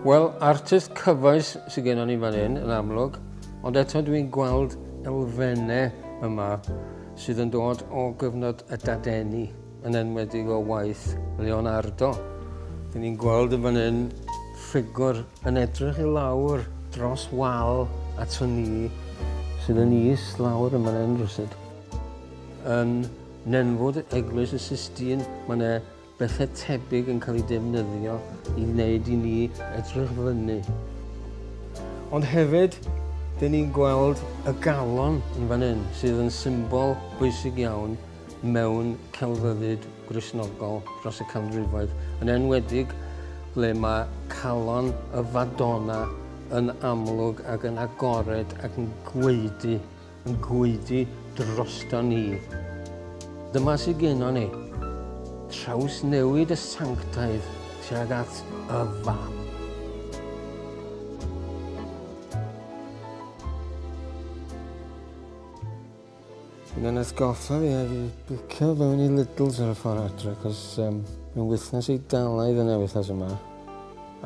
Wel, artist cyfoes sydd gennym ni fan hyn, yn amlwg, ond eto dwi'n gweld elfennau yma sydd yn dod o gyfnod y dadeni. yn enwedig o waith Leonardo. Dyn ni'n gweld yn fan hyn ffigwr yn edrych i lawr dros wal at y ni sydd yn is lawr yn fan hyn rhywsyd. Yn nenfwd eglwys y Sistine mae yna bethau tebyg yn cael ei defnyddio i wneud i ni edrych fyny. Ond hefyd, dyn ni'n gweld y galon yn fan hyn sydd yn symbol bwysig iawn mewn celfyddyd Gristnogol dros y canrifoedd, yn enwedig ble mae calon y Fadona yn amlwg ac yn agored ac yn gwaedu, yn gwaedu droston ni. Dyma sydd gennon ni, trawsnewid y sanctaidd tuag at y Fam. Mae hwnna'n atgoffa fi ar i bwcio fewn i Lidl's ar y ffordd adre, cos um, mae'n wythnos i dalaidd yn ewythas yma.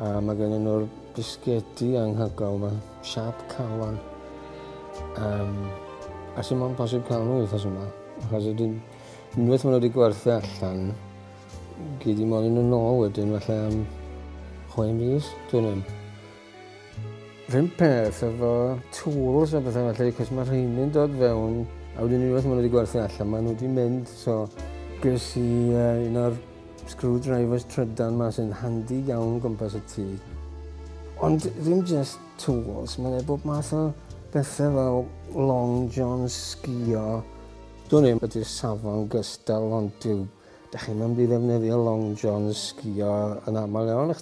A mae gen nhw'r bisgedi anghygol yma, siap calon. Um, a sy'n mwyn posib cael nhw wythnos yma, achos ydyn unwaith maen nhw wedi gwerthu allan, gyd i modd yn y nôl wedyn, falle am chwe mis, dwi'n ddim. Rhywun peth efo tools a bethau felly, cos mae rheini'n dod fewn, a wedyn unwaith maen nhw wedi gwerthu allan, maen nhw wedi mynd, so ges i uh, un o'r screwdrivers trydan ma sy'n handi iawn gwmpas y tŷ. Ond ddim just tools, mae'n ei bob math o bethau fel long john sgio. Dwi'n ei ydy'r safon gystal ond dyw, da chi'n mynd i ddefnyddio long john sgio yn aml iawn, ych